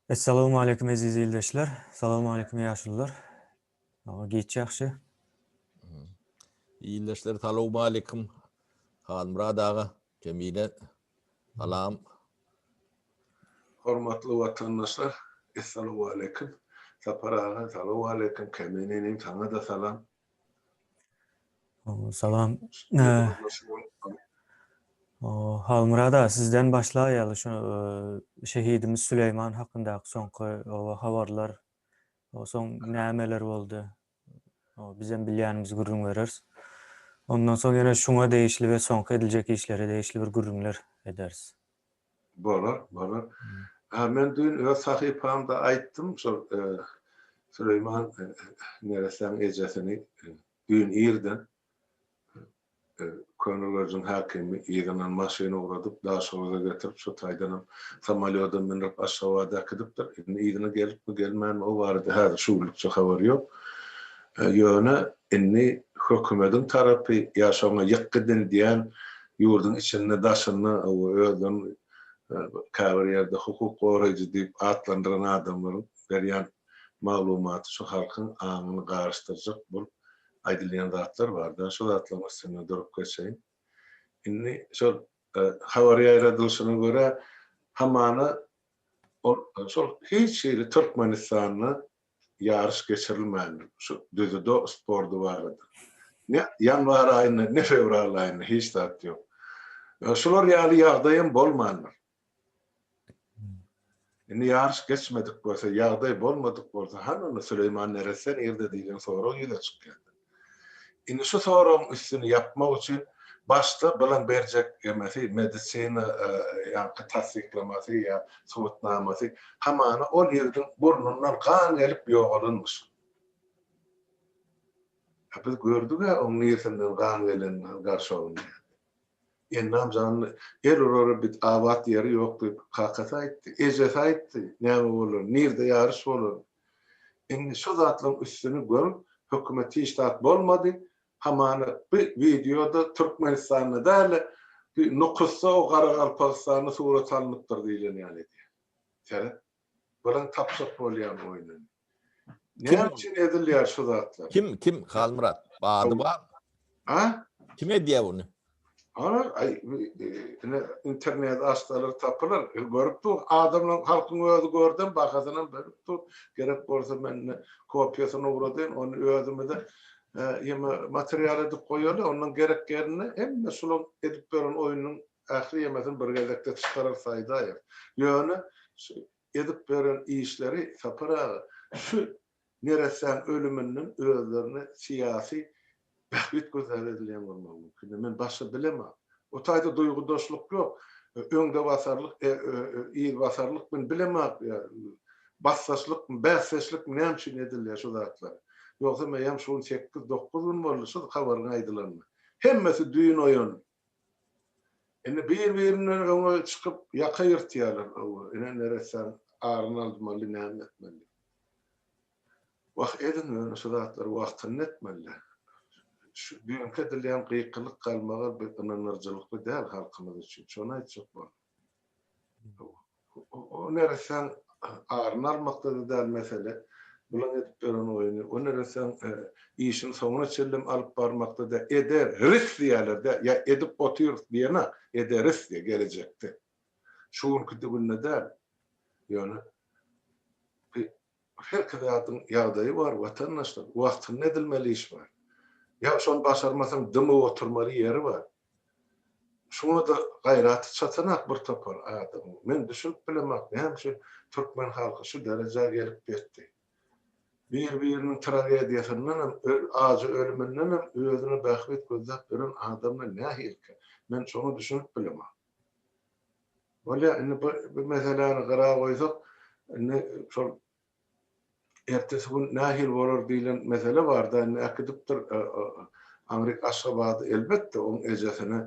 Essalawmaleýkim eziz ildeşler. Salawmaleýkim ýaşulylar. Aga giç ýagşy. Ildeşler salawmaleýkim. Halmyrad aga, Jemile salam. Hormatly watandaşlar, essalawmaleýkim. Sapar aga, salawmaleýkim. Kämen inim, saňa-da salam. Salam. Halmyrada sizden başlaýaly şu şehidimiz Süleýman hakyndaky soňky habarlar o soň nämeler boldy? O bizem bilýänimizi gürrüň bereris. Ondan soň ýene şuňa degişli we soňky ediljek işlere degişli bir gürrüňler ederis. Bolar, bolar. A men düýn öz sahypamda aýtdym, şol Süleýman neresäň ejesini düýn irden Köneürjiň häkimi yzyndan maşyn ugradyp, Daşoguza getirip, şo taýdanam samolýoda mündirip, Aşgabada äkidipdir. Indi yzyna gelipmi, gelmänmi, o barada häzir şu günlükçe habar ýok. Ýöne indi hökümediň tarapy ýa şoňa ýykgyn diýen Ýurduň içinde, daşynda we özlerini käbir ýerde hukuk goraýjy diýip atlandyran adamlaryň berýän maglumaty şu halkyň aňyny garyşdyrjak bolup aýdylýan zatlar bar da şu zatlaryň üstünde durup geçeýin. Indi şol habar ýaýradylyşyna görä hamana ol şol hiç hili Türkmenistanda ýaryş geçirilmän şu düzüdo spordy barada ne ýanwar aýynda ne fewral aýynda hiç zat ýok. Şular ýaly ýagdaýam bolmandyr. Indi ýaryş geçmedik bolsa ýagdaý bolmadyk bolsa hany onda Süleýman neresse nirde diýlen sorag ýüze çykýardy. Indi şu soragyň üstüni ýapmak üçin başda bilim berjek emesi medisina ýaňky tassyklamasy ýa subutnamasy hamana ol ýigdiň burnundan gan gelip ýogalanmyş. A biz gördüga oň niresinden gan gelenini han garşogynda ýa. Ennam janly el urara bit abat ýeri ýok diýip kakasy aýtdy, ejesi aýtdy näme bolar nirde ýaryş bolar Indi şu zatlaryň üstüni görüp hökümet hiç zat bolmady, hamana bu wideoda Türkmenistanda däl-de bir Nukusda o Garagalpagystanda surat alnypdyr diýlen ýaly edýär. Seret. Bilen tapjak bolýan oýnuny. Näme üçin edilýär şu zatlar? Kim, kim? Halmyrat. Bady bar. A? Kim edýär buny? Olar ine internet açsalar tapylar. Görüp dur, adamlaryň, halkyň özi gördem bahasynam berip dur. Gerek bolsa men ine kopiýasyny ugradyn, ony özümize ýeme material edip goýaly, ondan gerek ýerinde hemme şulaň edip beren oýnunyň ähli ýemesini bir gezekde çykarar saýdaýar. Ýöne şu edip beren işleri Sapar aga şu neressäň ölüminden özlerine syýasy bähbit gözläp edilýän bolmagy mümkin. Men başga bilemok. O taýda duýgudaşlyk ýok. Öňdebasarlyk, yzbasarlyk men bilemok. Basdaşlykmy, bäsdeşlikmi näme üçin edilýär şu zatlar? Ýogsa meýem şu gün sekiz-dokuz gün boldy şu habaryň aýdylanyna. Hemmesi düýn oýandy. Indi bir-birinden öňe çykyp ýaka ýyrtýarlar öňe ine neressäň aryny aldymally näme etmeli. Wah ediň ýöne şu zatlary wagtynda etmeli. Şu düýnki edilýän gykylyk galmagal bir ynanyrjylykly däl halkymyz üçin şony aýtjak boldum. O nereseň aryny almakda-da däl mesele, bulaň edip beren oýny, o nereseň işini soňuna çenlem alyp barmakda däl, ede ris diýýärler-dä, ýa edip otyrys diýen-ak, ederis diýýär, gelejekde. Şu günki-de günde däl. Ýöne Her zadyň ýagdaýy bar watandaşlar wagtynda edilmeli iş bar. Ýa şony başarmasaň dymyp oturmaly ýeri bar. Şuňada gaýraty çatanak bir topar adamyň. Men düşünip bilemak näme üçin türkmen halky şu derejä gelip ýetdi. Bir biriniň tragediýasyndanam öl ajy ölümindenem özüne bähbit gözläp ýören adamlar nähilikä. Men şoňa düşünip bilemak. Bolýar, indi bu meseläni gyra goýsak, indi şol ertesi gün nähili bolar diýlen mesele bar-da, indi äkidipdir aňryk Aşgabada, elbetde, oň ejesine,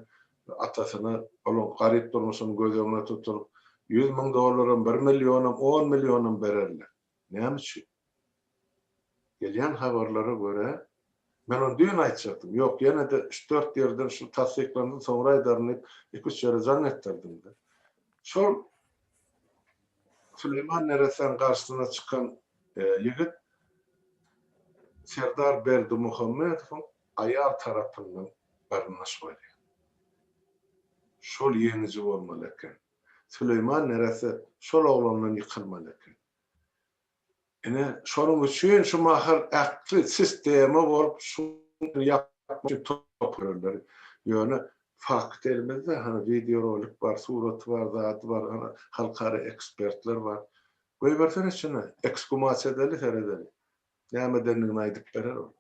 atasyna, olaň garyp durmuşyny göz öňüne tutup, ýüz müň dollaram, bir millionam, on millionam bererler. Näme üçin? Gelýän habarlara görä, men ony düýn aýtjakdym, ýok, ýene-de üç-dört ýerden şul tassyklansyn, soňra aýdaryn diýip, iki-üç ýere jaň etdirdim-de. Şol Süleýman neressäniň garşysyna çykan ýigit serdar Berdimuhamedowyň aýal tarapyndan garyndaş bolýar. Şol ýeňiji bolmaly eken. Süleýman neresse şol oglandan ýykylmaly eken. Ine, şonuň üçin şu mahal ähli sistema bolup şuny ýapmak üçin topar ýörler. Ýöne fakt elimizde, hany wideorolik bar, suraty bar, zady bar, hany halkara ekspertler bar. Goýbersene içine, eksgumasiýa edeli, seredeli. Näme edendigini aýdyp berer ol.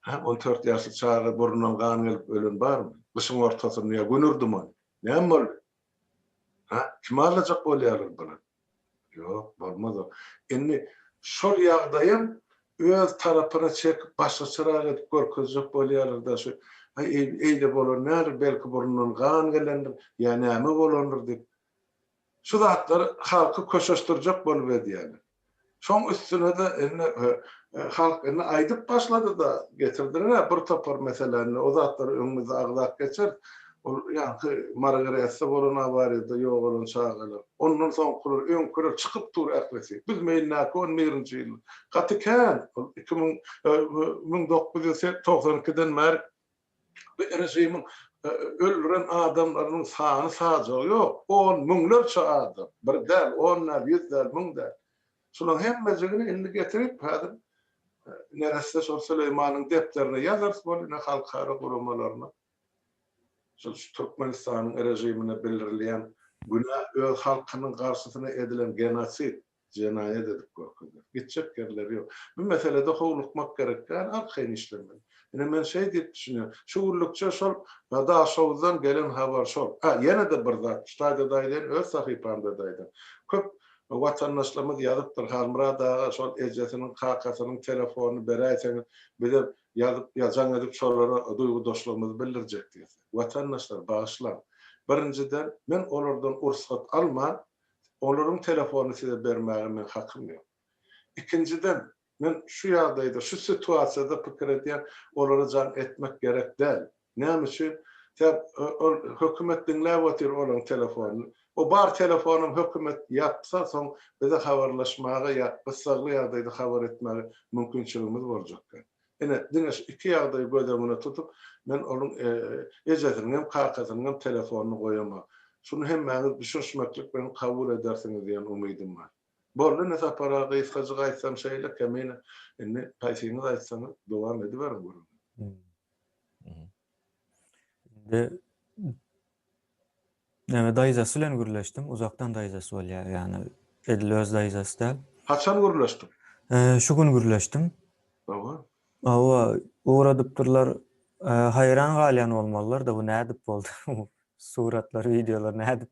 Hä, on dört ýaşly çaga burnundan gan gelip ölen barmy? Gyşyň ortasynda ýa gündür duman. Näme boldy? Hä, kimi aldajak bolýarlar bular? Ýok, bolmaz ol. Indi şol ýagdaýam öz tarapyna çekip, başgaçarak edip görkezjek bolýarlar-da, şu, Aý, eý, eýle bolan däldir, belki burnundan gan gelendir, ýa näme bolandyr diýip. Şu zatlar halky köşeşdirjek bolup edýäni. Şoň üstünede indi halk indi aýdyp başladyda getirdiler-ä bir topar meseläni o zatlary öňüňizde agzap geçeris. Ol ýaňky Margaretde bolan awariýada ýogalan çagalar. Ondan soňkular öňkiler çykyp dur ählisi. Biz meýnäki on birinji ýyl. Gaty kän. Ol iki müň müň dokuz ýüz togsan ikiden bäri Bu režimiň öldüren adamlarynyň sany sajagy ýok, on müňlerçe adam, bir däl, on däl, ýüz däl, müň däl. Şularyň hemmejigini indi getirip häzir neresse şol Süleýmanyň depderine ýazarys boldy, ne halkara guramalaryna. Şol şu Türkmenistanyň režimine bildirilýän günä öz halkynyň garşysyna edilen genosid. Jenaýat edip görkezýär. Gitjek ýerleri ýok. Bu meselede howlukmak gerek däl, arkaýyn işlemeli. Ine men şeý diýip düşünýän. Şu günlükçe şol Dadaşowdan gelen habar şol. Hä, ýene-de bir zat, şu taýda-da aýdaýyn, öz sahypamda-da aýdan. Köp watandaşlarymyz ýazypdyr, Halmyrat aga şol ejesiniň, kakasynyň telefonyny beräýseňiz, bizem ýazyp, jaň edip şolara duýgudaşlygymyzy bildirjek diýse. Watandaşlar, bagyşlaň. Birinjiden, men olardan ursgat alman, Olaryň telefonyny size bermäge meň hakym ýok. Ikinjiden, men şu ýagdaýda, şu situasiýada pikir edýän, olara jaň etmek gerek däl. Näme üçin? Sen, ol hökümet diňläp otyr olaň telefonyny. O bar telefonam hökümet ýapsa, soň bize habarlaşmaga ýa gyssagly ýagdaýda habar etmäge mümkinçiligimiz boljak däl. Ine, diňe şu iki ýagdaýy göz öňüne tutup, men onuň ejesiniň hem, kakasynyň hem telefonyny goýaman. Şuny hemmäňiz düşünşmeklik bilen kabul edersiňiz diýen umydym bar. Boldy indi Sapar aga, gysgajyk aýtsaň şeýle, kemine, indi haýsyňyz aýtsaňyz, dowam ediberiň gürrüňizi. Indi Näme daýzasy bilen gürleşdim. Uzakdan daýzasy bolýar. Ýagny edil öz daýzasy däl. Haçan gürleşdiň? Şu gün gürleşdim. Hawa. Hawa, ugradypdyrlar. Haýran galýan bolmalylar-da, bu nädip boldy? Suratlar, wideolar nädip?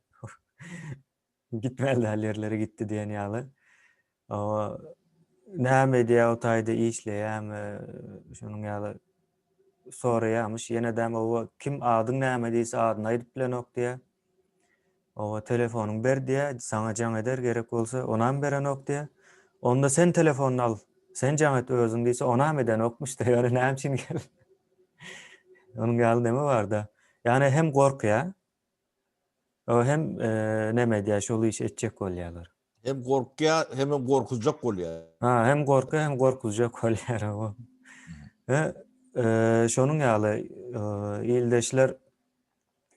Gitmeli däl ýerlere gitdi diýen ýaly. Oba näme edýär o taýda işleýärmi, şonuň ýaly soraýarmyş. Ýene däm oba kim adyň näme diýse adyny aýdyp bilenok diýär. Oba telefonyňy ber diýär, saňa jaň eder gerek bolsa, onam berenok diýär. Onda sen telefonyny al, sen jaň et özüň diýse onam edenokmyş-da, ýöne näme üçin geldi. Onuň ýaly näme bar-da. Ýani hem gorkýar, O hem neme edýär, şol işi etjek bolýarlar. Hem gorkýar, hem hem gorkuzjak bolýar. Ha, hem gorkýar, hem gorkuzjak bolýar o. He, şonuň ýaly ildeşler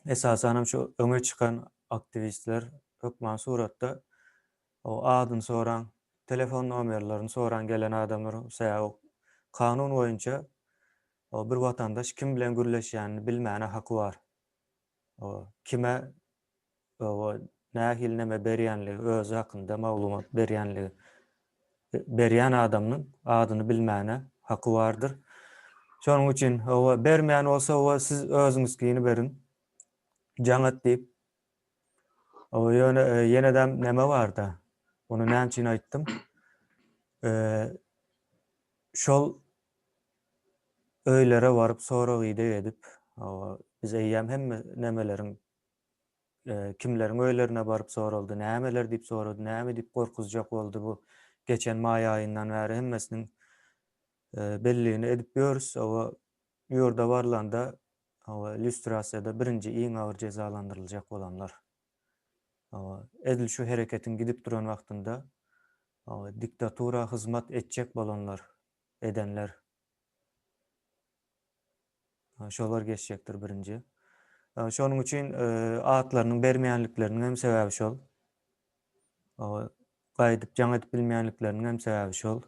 esasan hem şu öňe çykan aktiwistler hökman suratda o adyny soran, telefon nomerlerini soran gelen adamlar sebäbi kanun boýunça o bir watandaş kim bilen gürleşýänini bilmäne haky bar. kime we nähili näme berýänligi, özi hakynda maglumat berýänligi, berýän adamynyň adyny bilmäne haky bardyr. Şonuň üçin we bermeýän bolsa we siz özüňizkini beriň. Jaňat diýip. Oba ýöne ýenedem näme barda? Ony näme üçin aýtdym? Şol Öýlere baryp sorag-ideg edip, biz eýýäm hemme nämeleriň kimleriň öýlerine baryp soraldy, nämeler diýip sorady, näme diýip gorkuzjak boldy bu geçen maý aýyndan bäri hemmesiniň belligini edip ýörüs. Oba ýurda barlanda lýustrasiýada birinji iň agyr jezalandyryljak bolanlar. Oba edil şu hereketiň gidip duran wagtynda diktatura hyzmat etjek bolanlar edenler şolar geçjekdir birinji. Şonuň üçin atlarynyň bermeýänlikleriniň hem sebäbi şol. Gaýdyp jaň edip bilmeýänlikleriniň hem sebäbi şol.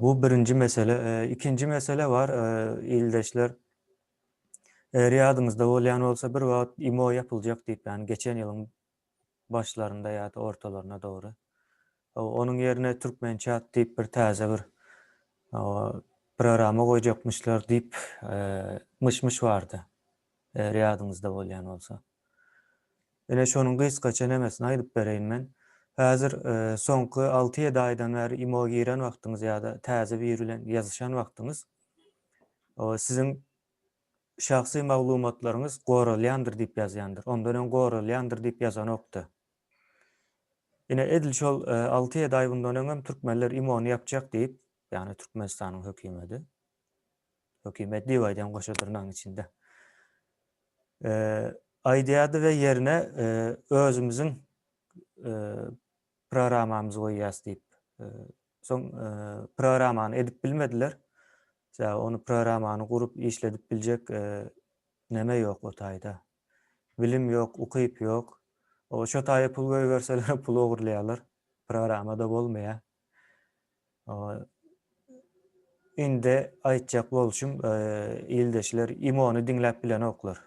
Bu birinji mesele. Ikinji mesele bar, ildeşler. Eger ýadyňyzda bolýan bolsa, bir wagt IMO ýapyljak diýip, ýani geçen ýylyň başlarynda ýa-da ortalaryna dogry. Onuň ýerine Türkmençat diýip bir täze bir programa goýjakmyşlar diýip myş-myş bardy, eger ýadyňyzda bolýan bolsa. Ine şonuň gysgaça nemesini aýdyp bereýin men. Häzir soňky alty-ýedi aýdan bäri imo giren wagtyňyz ýa-da täze biri bilen ýazyşan wagtyňyz siziň Şahsy maglumatlaryňyz goralýandyr diýip ýazýandyr. Ondan öň goralýandyr diýip ýazanokda. Ine edil şol alty ýedi aý bundan öňem türkmenler imony ýapjak diýip, ýagny Türkmenistanyň hökümedi, hökümet diýip aýdýan goşa dyrnagyň içinde, aýdýardy we ýerine özümiziň programamyzy goýýas diýip Soň programmany edip bilmediler. Sebäbi ony programmany gurup işledip biljek neme ýok o taýda. Bilim ýok, ukyp ýok. O şo taýa pul goýberseler pul ogurlaýarlar. Programmada bolmaýar. Indi aýtjak bolşum ildeşler imony diňläp bilenoklar.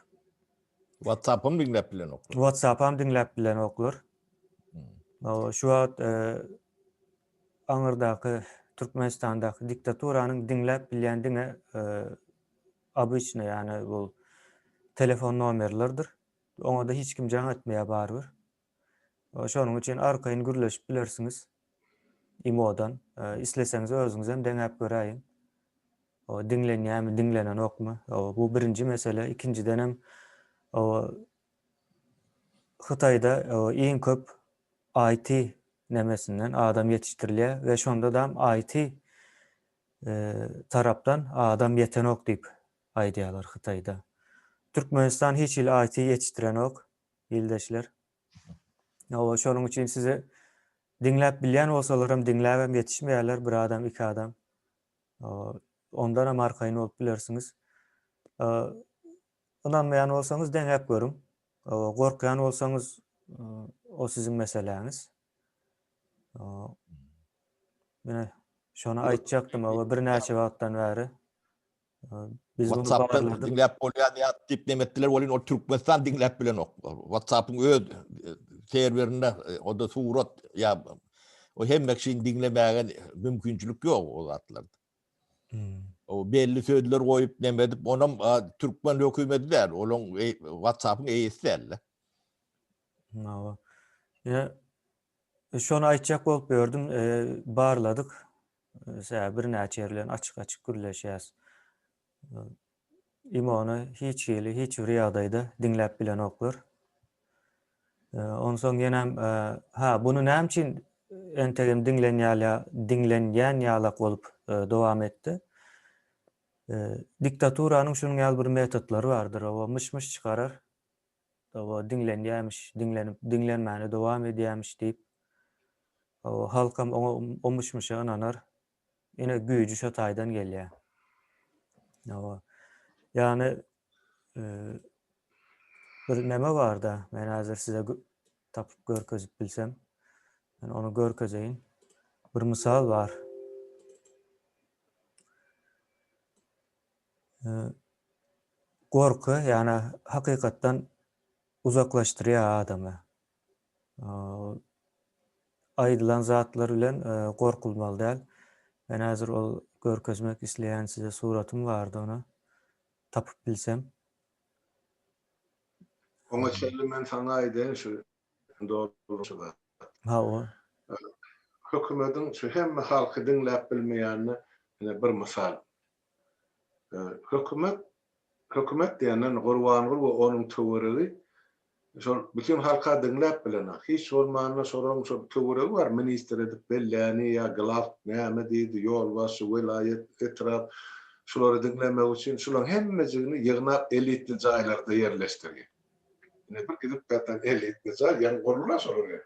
WhatsApp-am diňläp bilenoklar. WhatsApp-am diňläp bilenoklar. Şu wagt aňyrdaky Türkmenistandaky diktaturanyň diňläp bilýän diňe obyçny, ýagny bu telefon nomerleridir. Oňa-da hiç kim jaň etmeýär barybir. Şonuň üçin arkaýyn gürleşip bilersiňiz imodan. Isleseňiz özüňizem deňäp göräýiň. Diňlenýärmi, diňlenenokmy? Bu birinji mesele. Ikinjidenem Hytaýda iň köp IT nämesinden adam ýetişdirilýär we şondadam IT tarapdan adam ýetenok diýip aýdýarlar Hytaýda. Türkmenistan hiç hili IT ýetişdirenok ildeşler. Hawa şonuň üçin sizi diňläp bilýän bolsalaram diňläbem ýetişmeýärler bir adam iki adam. Ondanam arkaýyn bolup bilersiňiz. Ynanmaýan bolsaňyz deňäp görüň. Gorkýan bolsaňyz o siziň meseläňiz. Mine şony aýtjakdym we birnäçe wagtdan bäri biz bunu barladyk. Diňläp bolýar diýip diýip demetdiler welin ol Türkmenistan diňläp bilenok. WhatsApp-yň öz serwerinde o da surat ýa o hemme kişini diňlemäge mümkinçilik ýok o zatlarda. O belli sözler goýup nemedip, onam türkmen hökümeti däl, olaň e, WhatsApp-yň eýesi däl. Mawa. Ya e, şonu aýtjak bolup gördüm, e, barladyk. Sä bir näçe ýerlerini açyk-açyk gürleşýäs. Imony hiç hili, hiç bir ýagdaýda diňläp bilenoklar. Onsoň ýenem, ha, buny näme üçin entegem diňlenýän ýalak bolup dowam etdi? Diktaturanyň şunuň ýaly bir metodlary bardyr, oba, myş-myş çykarar, oba, diňlenýämiş, diňlenip, diňlenmäne dowam edýämiş diýip, oba, halkam oňa, o myş-myşa ynanar, Ine güýji şo taýdan gelýär. Hawa. Ýagny bir näme barda, men häzir size tapyp görkezip bilsem, men ony görkezeýin. Bir mysal bar. Gorky, ýagny hakykatdan uzaklaşdyrýar adamy. aýdylan zatlar bilen gorkulmaly däl. Men häzir ol görkezmek isleýän size suratym bardy ony tapyp bilsem. Oňa çenli men saňa aýdaýyn şu dolanşygy. Hawa. Hökümediň şu hemme halky diňläp bilmeýänine ine bir mysal. Hökümet, hökümet diýenden Gurbanguly we onuň töweregi şol bütin halka diňläp bilenok. Hiç bolmanda şolaryň şol töweregi bar, ministr edip belläni ýa glawk näme diýdi, ýolbaşçy, welaýat, etrap, şulary diňlemek üçin şularyň hemmejigini ýygnap elitli jaýlarda ýerleşdirýär. Ine bir gidip ýatan elitni jaý, ýaňy gurulýar şol indi.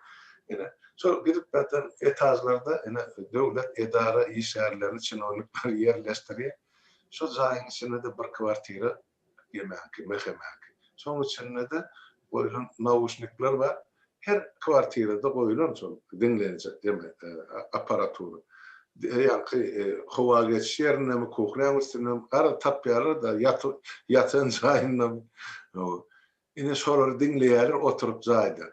Ine, şol gidip ýatan etažlarda ine döwlet edara işgärlerini, çinownikleri ýerleşdirýär. Şo jaýyň içinde-de bir kwartira ýemäňki, mehemäňki. Şoň içinde-de goýlan nauşnikler bar. Her kwartirada goýulan şol diňlenijek jemi apparatura. Her ýanky howa geçiş ýerindemi, kuhnäň üstündemi, garaz tapýarlar-da, ýatan jaýyndamy. Hawa. Ine şolary diňleýärler oturyp jaýda.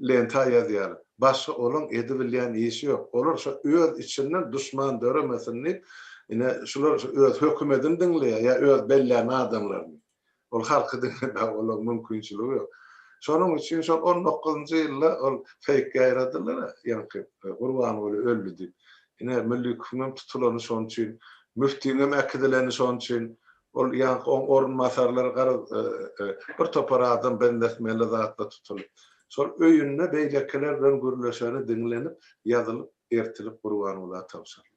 Lenta ýazýarlar. Başga olaň edibilýän işi ýok. Olar şo öz içinden duşman döremesin diýip, ine şular öz hökümedini diňleýär ýa öz bellän adamlaryny. Ol halky diňlemäge olaň mümkinçiligi ýok. Şonuň üçin şol on dokuzynjy ýylda ol feýk ýaýradylar-a, ýaňky Gurbanguly öldi diýip. Ine, Müllikowyň hem tutulany şonuň üçin, müftiň hem äkidileni şonuň üçin. Ol ýaňky oň orunbasarlary garaz, bir topar adam benzetmeli zatla tutulyp. Şol öýünde beýlekiler bilen gürleşeni diňlenip, ýazylyp, ertilip Gurbanguly aga tabşyryldy.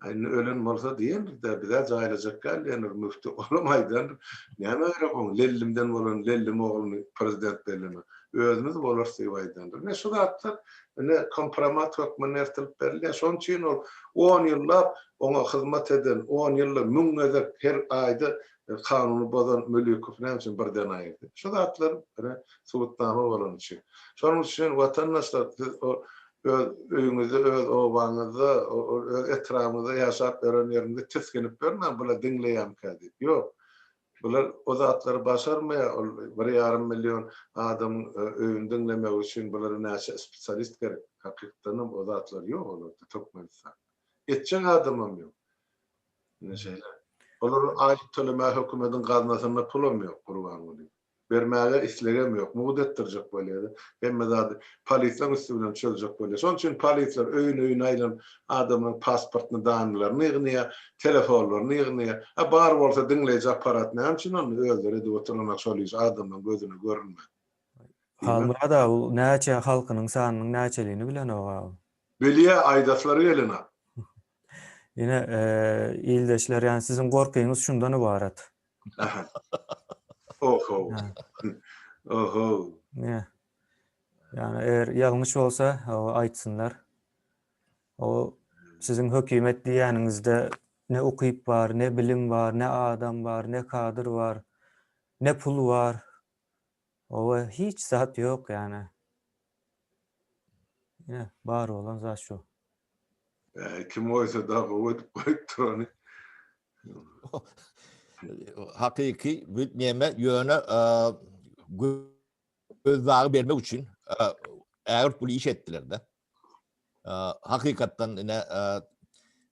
Indi ölen bolsa diýendir-dä, biz-ä jaýlajak däl diýendir Müfti. Olam aýdandyr, Näme gerek oň Lellimden bolan Lellim ogluny prezident bellemek. Özümiz bolarys diýip aýdandyr. Ine, şu zatlar ine kompromat hökmünde ertilip berilýär. Şonuň üçin ol on ýyllap oňa hyzmat eden, on ýylda müň gezek her aýda E, kanuny bozan Mülükow näme üçin birden aýyrdy? Şu zatlar ine subutnama bolany üçin. Şonuň üçin watandaşlar siz o öz öýüňizde, öz obaňyzda, öz etrabyňyzda ýaşap ýören ýeriňizde tisginip ýörmäň, bular diňleýämkä diýip. Ýok. Bular o zatlary başarmaýar. Ol bir ýarym million adamyň e, öýüni diňlemegi üçin bulara näçe spesialist gerek? Hakykatdanam o zatlar ýok olarda Türkmenistanda. Etjek adamam ýok. Ine şeýle. Olara aýlyk tölemäge hökümediň gaznasynda pulam ýok, Gurbanguly. Bermäge islegem ýok. Mugt etdirjek bolýa-da. Hemme zady polislaň üsti bilen çözjek bolýa. Şonuň üçin polisler öýün-öýüne aýlanyp, adamlaryň pasportyny, danylaryny ýygnýar, telefonlaryny ýygnýar. A bar bolsa diňleýji apparat näme üçin onda? Özleri edip oturanok şol işi, adamlaryň gözüne görünmän. Halmyrat aga, bu näçe halkynyň sanynyň näçeligini bilenok aga? Bilýär, aýdaslary gelenok. Ine, ildeşler, ýani siziň gorkyňyz şundan ybarat. Aha. Oho. Oho. Ne? Ýani eger ýalňyş bolsa, aýtsynlar. O siziň hökümet diýýäniňizde ne ukyp bar, ne bilim bar, ne adam bar, ne kadr bar, ne pul bar. Oba hiç zat yok yani. Yine bar olan zat şu. Ee, kim oysa da gowy edip goyupdyr onu. Hakyky büt neme yöne göz dağı bermek üçin ägirt bul iş etdiler de. hakykatdan ine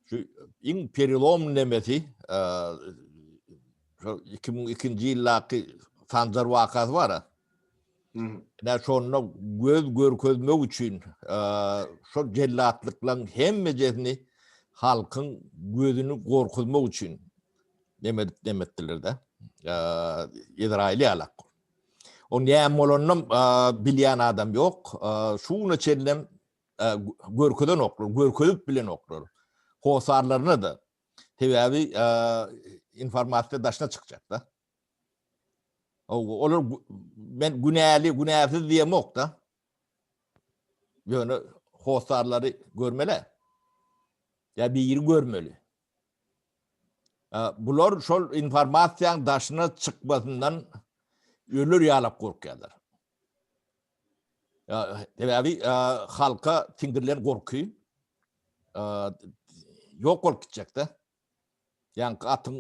şu iň perilom nemesi şu 2002-nji ýyldaky Sanjar wakasy bar. Ine şonda göz görkezmek üçin şu jellatlyklan hemmejesini halkyň gözüni gorkuzmak üçin nemedik nemetdiler de. Izrail ýalak. Ol näme bolanynam bilýän adam ýok. Şu güne çenlem görkezenoklar, görkezip bilenoklar. Hossarlaryna-da. Sebäbi informasiýa daşyna çykjak-da. Olar men günäli, günäsiz diýemok-da. Ýöne hossarlary görmeli. Ýa biri görmeli. Bular şol informasiýaň daşyna çykmasyndan öler ýalak gorkýarlar. Sebäbi halka siňdirilen gorky ýok bolup gitjekde. Ýaňky atyň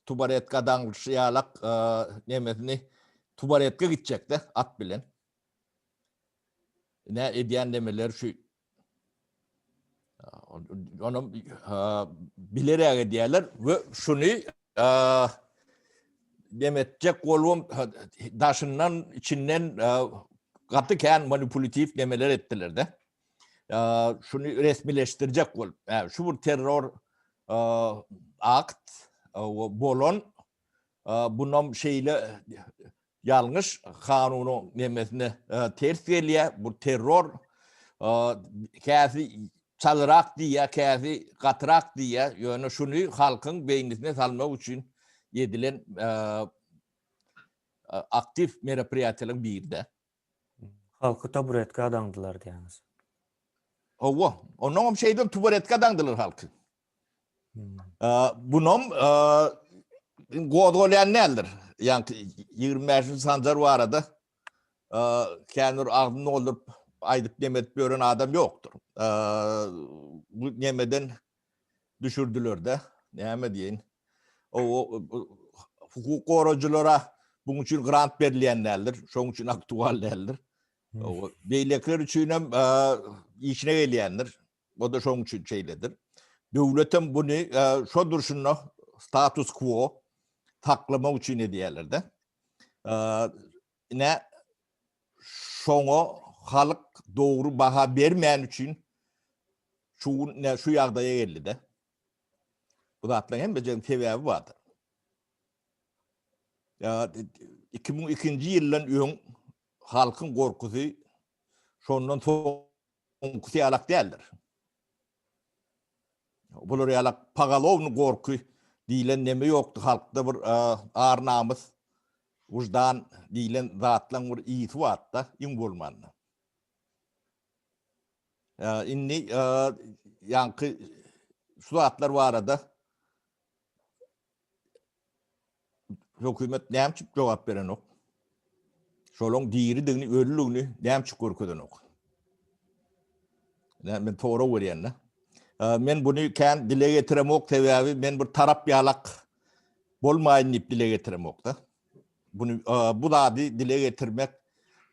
tubaretka daňlyşy ýalak nemesini tubaretka gitjekde at bilen. Nä edýän nemeleri şu Onu bilerek edýärler we şuny dem etjek bolubam daşyndan, içinden gaty kän manipulatiw demeler etdiler-de. Şuny resmileşdirjek bolup, şu bir terror akt bolan, bunam şeýle Ýalňyş kanunyň nemesine ters gelýä bu terror käsi çalyrak diýýä käsi gatyrak diýýä ýöne şuny halkyň beýnisine salmak üçin edilen aktiw meropriýatiýalaryň biride. Halky taburetka daňdylar diýýäňiz. Howwa onnoňam şeýdip tuburetka daňdylar halky. Bunam gozgalaýan däldir. Ýaňky 25-nji sanjar barada känbir agzyny dolduryp aýdyp nemetip ýören adam ýokdur. Bu nemeden düşürdiler-de, näme diýen. O hukuk gorajylara buň üçin grant berilýän däldir, şoň üçin aktual däldir. O beýlekiler üçin hem işine gelýändir. O-da şoň üçin şeýledir. Döwletem buny şo durşuna status quo saklamak üçin edýärler-de. Ine şoňa halk dogry baha bermän üçin şu ne şu ýagdaýa geldi-de. Bu zatlaryň hemmesiniň sebäbi bardyr. 2002-nji ýyldan öň halkyň gorkusy şondan soň Oňkusy ýalak däldir. Bular ýalak pogalowny gorky diýlen neme ýokdy halkda bir ar namys wyždan diýlen zatlaň bir ysy batda iň bolmanda. Indi ýaňky şu zatlar barada Hökümet näme üçin jogap berenok? Şolaň diridigini, ölüligini näme üçin görkezenok? Näme men tora görýän-de. Men buny kän dile getiremok, sebäbi men bir tarap ýalak bolmaýyn diýip dile getiremok-da. Buny bu zady dile getirmek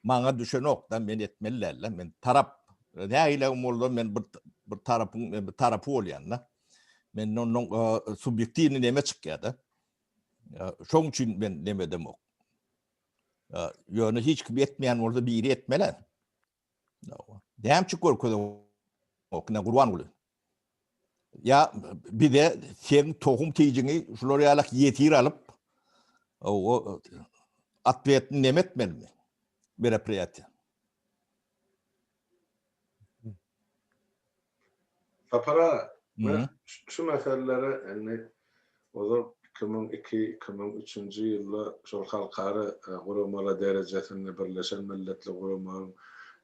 maňa düşenok-da, men etmeli däl-de. Men tarap nägile bolsa men bir bir tarapyň bir tarapy bolýan-da. Men ondan subýektiwny näme çykýar-da? Şoň üçin men näme edemok. Ýöne hiç kim etmeýän bolsa biri etmeli. Näme görkezip okna gurban boluň. Ýa bize sen tohum tijiňi şular ýaly ýetir alyp o atletni näme etmeli? Merepräti. Sapar aga, men şu meselelere indi ozal iki müň iki, iki müň üçünji ýyllar şol halkara guramalar derejesinde Birleşen Milletler Guramagyň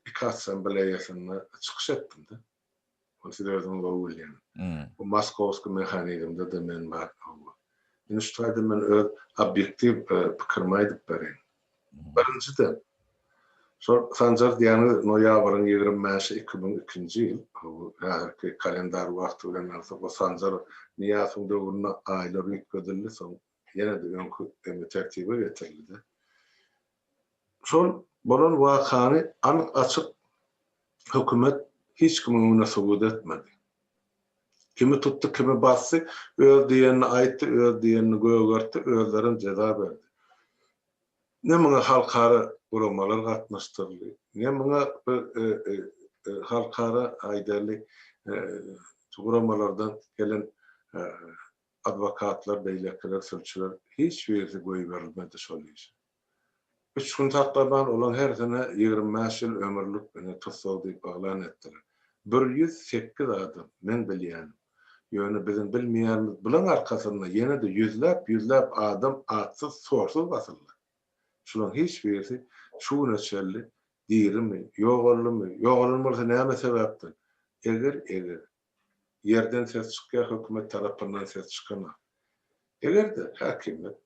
iki assambleýasynda çykyş etdim-de. Ony siz özüňiz gowy bilýän. Bu moskowskiý mehanizmde-de men bar. Indi şu taýdan men öz obýektiw pikirimi aýdyp bereýin. Birinjiden, şol Sanjar diýýäniňiz noýabryň ýigrimi bäşi iki müň ikinji ýyl, häzirki kalendar wagty bilen alsak, bu Sanjar Nyýasowyň döwründe aýlar üýtgedildi, soň Ýene-de öňki emri tertibe getirildi. Şol bolan wakany anyk-açyk hökümet hiç kimiň öňünde subut etmedi. Kimi tutdy, kimi basdy, öz diýenini aýtdy, öz diýenini gögertdi, özlerem jeza berdi. Ne muňa halkara guramalar gatnaşdyryldy, ne muňa bir halkara, aýdaly, guramalardan gelen Adwokatlar, beýlekiler, sülçüler, hiç birisi goýberilmedi şol işe. Üç gün saklaman, olaň hersine ýigrimi bäş ýyl ömürlik ine tussag diýip yglan etdiler. Bir ýüz sekiz adam, men bilýänim. Ýöne biziň bilmeýänimiz bulaň arkasynda ýene-de ýüzläp, ýüzläp adam atsyz, sorsuz basyldy. Şulaň hiç birisi şu güne çenli dirimi, ýogaldymy, ýogalan bolsa näme sebäpden? Eger, eger. ýerden ses çykýar hökümet tarapyndan ses çykanok. Eger-de häkimiýet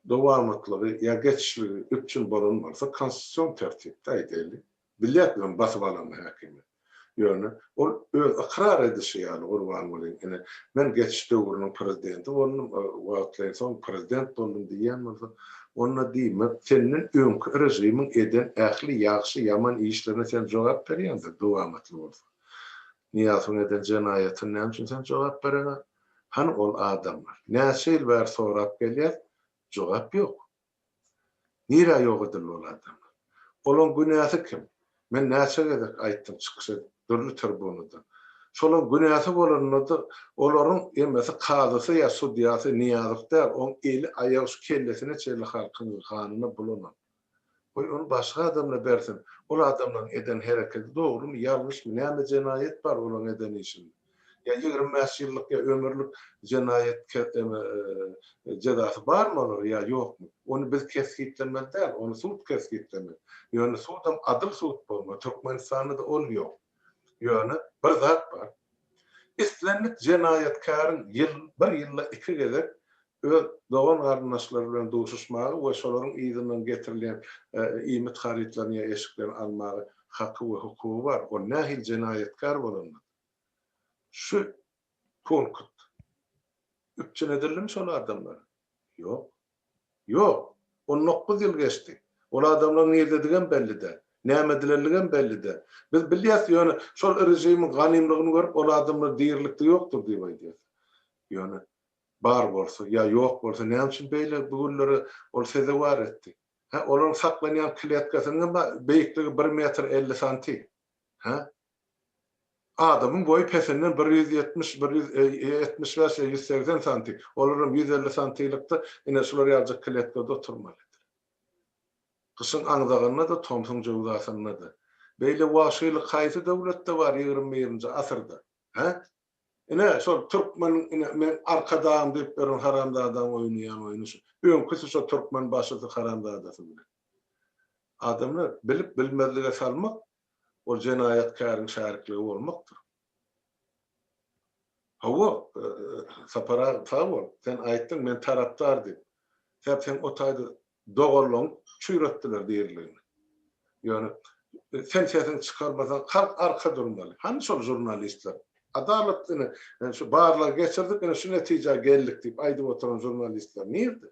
dowamatlygy ýa geçişligi üpjün bolan bolsa konstitusion tertipde aýdaýly bilek bilen basyp alanda häkimiýet. Ýöne ol öz ykrar edişi ýaly gurban bolyň ine men geçiş döwrüniň prezidenti boldum wagtlaýyn soň prezident boldum diýýän bolsa onda diýmek senden öňki režimiň eden ähli ýagşy ýaman işlerine sen jogap berýändir dowamatly bolsa. Nyýazowyň eden jenaýatyny näme üçin sen jogap bereňä? Hany ol adamlar? Näçe ýyl bäri sorap gelýäs, jogap ýok. Nirä ýok edildi ol adamlar? Olaň günäsi kim? Men näçe gezek aýtdym çykyş edip dürli tribunadan. Şolaň günäsi bolanda-da olaryň emmesi kazysy ýa sudýasy Nyýazow däl, oň eli, aýagy şu kellesine çenli halkyň ganyna bulanan. Goý, ony başga adamla bersin. Ol adamlaryň eden herekedi dogrymy, ýalňyşmy, näme jenaýat bar olaň eden işinde? Ýa ýigrimi bäş ýyllyk ýa ömürlik jenaýat ke, eme, e, jezasy barmy olara ýa ýokmy? Ony biz kesgitlemeli däl, ony sud kesgitlemeli. Ýöne sudam adyl sud bolmaly. Türkmenistanda-da ol ýok. Ýöne bir zat bar. Islendik jenaýatkäriň ýyl, bir ýylda iki gezek öz dogan-garyndaşlary bilen duşuşmaga we şolaryň yzyndan getirilýän iýmit harytlaryny ýa eşiklerini almaga haky we hukugy bar. Ol nähili jenaýatkär bolanda-da. Şu punkt üpjün edildimi şol adamlara? Ýok. Ýok! On dokuz ýyl geçdi. Ol adamlaryň nirdedigem belli däl. Näme edilenligem belli däl. Biz bilýäs, ýöne şol režimiň ganymlygyny görüp, ol adamlar dirilikde ýokdur diýip aýdýarys. Ýöne Bar bolsa, ýa ýok bolsa, näme üçin beýle güllere ol sezewar etdi? Hä, olaryň saklanýan kletkasynyň beýikligi bir metr elli santi. Hä? Adamyň boýy pesinden bir ýüz ýetmiş, bir ýüz ýetmiş bäş ýa ýüz segsen santi. Olaram ýüz elli santilykda ine şular ýaljak kletkada oturmalydyr. Gyşyň aňzagynda-da, tomsuň jöwzasynda-da. Beýle wagşylyk haýsy döwletde bar ýigrimi birinji asyrda? Hä? Ine, şol türkmen ine meň arkadagym diýip ýören haramzadaň oýnaýan oýny şu. Öňküsi şo türkmen başysy haramzadasy bilen. Adamlar bilip bilmezlige salmak ol jenaýatkäriň şärikligi bolmakdyr. Hawa, Sapar aga sag bol. Sen aýtdyň men tarapdar diýip. Sebäp sen o taýda Doganlaň çüýretdiler diriligini. Ýöne sen sesiňi çykarmasaň halk arka durmaly. Hany şol žurnalistler? Adalat ine şu barlag geçirdik ine şu netijä geldik diýip aýdyp oturan žurnalistler nirde?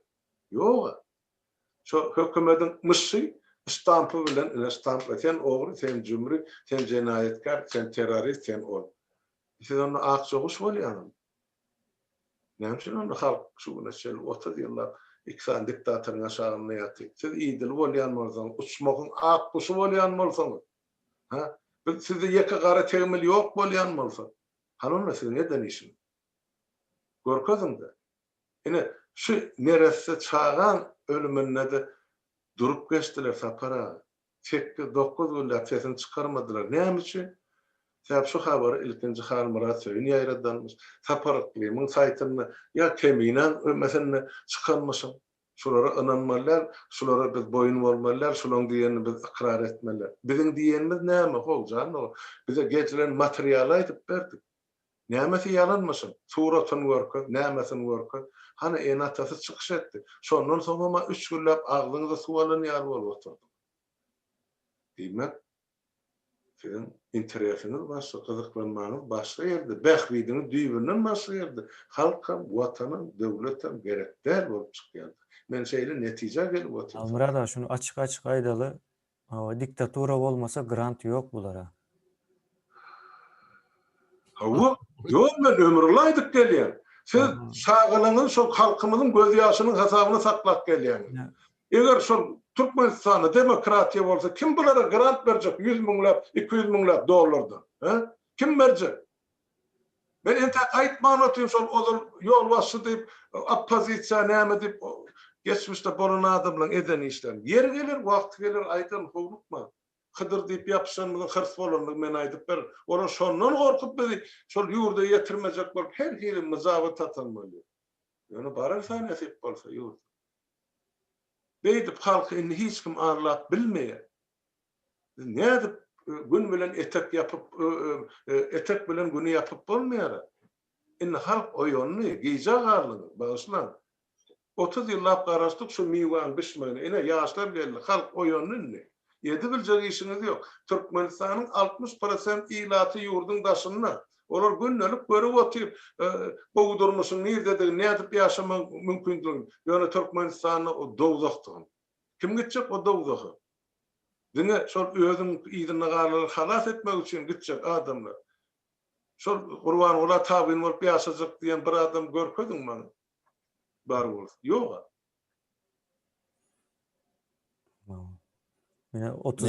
Ýoga. Şo hökümediň myşy ştampy bilen ine ştampla sen ogry, sen jümri, sen jenaýatkär, sen terrorist, sen ol. Siz onda akja guş bolýaňyzmy? Näme üçin onda halk şu güne çenli otuz ýyllap iki sany diktatoryň aşagynda ýatyr? Siz idil bolýan bolsaňyz, uçmagyň ak guşy bolýan bolsaňyz, hä? Biz sizde ýeke gara tegmil ýok bolýan bolsa, hany onda siziň eden işiňiz? Görkeziň-de. Ine, şu neresse çagaň ölüminde-de durup geçdiler Sapar aga. Sekkiz, dokuz günläp sesini çykarmadylar. Näme üçin? Sebäbi şu habary ilkinji Halmyrat Söýün ýaýradanmyş. Sapar Yklymyň saýtynda ýa Keminäň ömesinde çykanmyşyn. Şulara ynanmaly däl, şulara biz boýun bolmaly däl, şulaň diýenini biz ykrar etmeli däl. Biziň diýenimiz näme, how, jan dogan? Bize gecirän materialy aýdyp berdik. Nämesi ýalanmyşyn? Suratyny görkez, nämesin görkez. Hany, ene-atasy çykyş etdi. Şondan soňam-a üçgünläp agzyňyzy suw alan ýaly bolup otyrdyňyz. Diýmek, siziň interesiňiz başga, gyzyklanmaňyz başga ýerde, bähbidiňiz düýbünden başga ýerde. Halkam, Watanam, döwletem gerek däl bolup çykýarda. Men şeýle netijä gelip otyryn. Halmyrat aga, şuny açyk-açyk aýdaly, Hawa diktatura bolmasa grant ýok bulara. Hawa ýok men ömrüňi aýdyp gelýän. Siz çagalygyňyzy şol halkymyzyň göz ýaşynyň hasabyna saklap gelýäňiz. Eger şol Türkmenistanda demokratiýa bolsa kim bulara grant berjek ýüz müňläp, iki ýüz müňläp dollardan? He? Kim berjek? Men entäk aýtman otyryn şol ozal ýolbaşçy diýip oppozisiýa näme diýip geçmişde bolan adamlaň eden işlerini. Ýeri geler wagty geler aýdaryn howlukman. Hydyr diýip ýapyşanymyzyň hyrs bolandygy men aýdyp berin. Olar şondan gorkup bizi şol ýurda ýetirmejek bolup her hili myjaby tatan bolýar. Ýöne bararsa nesip bolsa ýurda. Beýdip halky indi hiç kim arlap bilmeýär. Biz nädip gün bilen etek ýapyp, etek bilen güni ýapyp bolmaýar-a. Indi halk oýandy, gijä galdyňyz, bagyşlaň. Otuz ýyllap garaşdyk şu miwäň bişmegine, ine, ýaşlar geldi, halk oýandy indi. Edibiljek işiňiz ýok. Türkmenistanyň altmyş prosent ilaty ýurduň daşynda. Olar gündelik görüp otyr gowy durmuşyň nirdedigini, nädip ýaşamagyň mümkindigini, ýöne Türkmenistanda o dowzahdygyny. Kim gitjek o dowzaha? Diňe şol özüň yzyndagalary halas etmek üçin gitjek adamlar. Şol Gurbangula tabyn bolup ýaşajak diýen bir adam görkeziň maňa. Bar bolsa. Ýog-a. Ýa otuz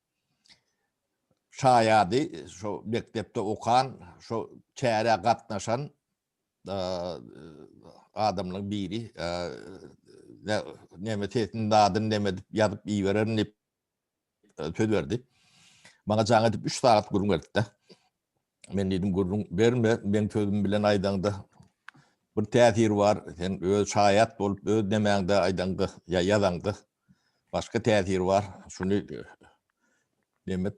Şaýady şo mekdepde okan, şo çärä gatnaşan adamlaryň biri neme sesiniň dadyny neme edip ýazyp ibererin diýip söz berdi. Maňa jaň edip üç sagat gürrüň berdi-de. Men diýdim, gürrüň berme, meň sözüm bilen aýdaňda bir täsir bar, sen öz şaýat bolup, öz nemäňde aýdaňda ýa ýazaňda başga täsir bar, şuny demek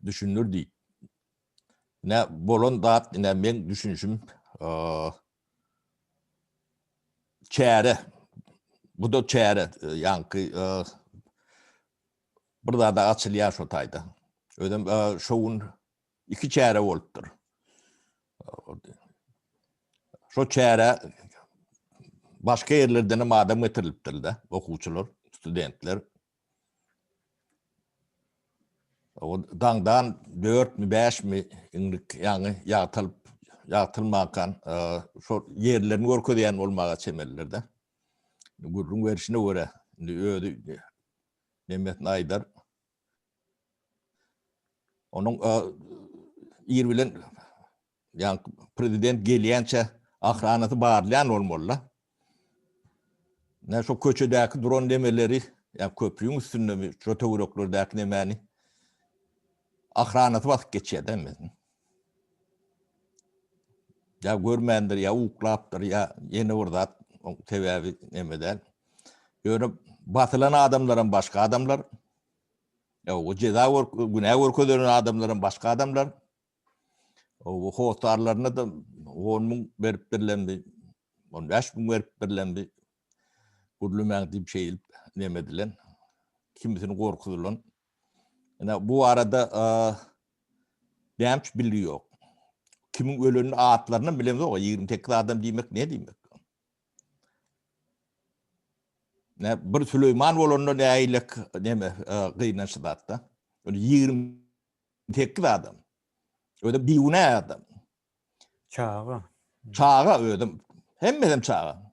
düşündir diýip. Nä bolan zat, nä meň düşünişim çäre, bu da çäre, ýaňky bir zada açylýar şo taýda. Özem şo gün Iki çäre bolupdyr. Şo çäre başga ýerlerden hem adam getirilipdir-de, okuwçylar, studentler. O daňdan 4 mi, 5 mi inlik ýaňy ýagtylyp, ýagtylmankan şo ýerlerini görkezýän bolmaga çemelidir-de. Gürrüň berişine görä, indi özi Mehmet Naýdar Onuň ir bilen ýa prezident gelýänçe ahranasy barlaýan bolmaly-da. Nä şu köçedäki duran nemeleri, ýa köprüň üstündemi, şu töwereklerdäki nemäni ahranasy basyp geçýär-de. Ýa görmändir, ýa uklapdyr, ýa ýene bir zat, oň sebäbi neme däl. Ýöne basylan adamlaram başga adamlar. Ow, jeza görk, günä görkezilen adamlaram başga adamlar. Ow, hossarlaryna-da on müň beripdirlemdi, on bäş müň beripdirlemdi. Gürlemäň diýip şeýdip neme edilen, kimisini gorkuzylan. Ine, bu barada näme bilgi ýok. Kimiň ölenini atlaryny bilemzok, 28 adam diýmek ne diýmek? Ne bir Süleýman bolanda näilek neme gynançly zatda. 28 adam. Öde biwne adam. Çaga. Çaga ödüm. Hemmeden çaga.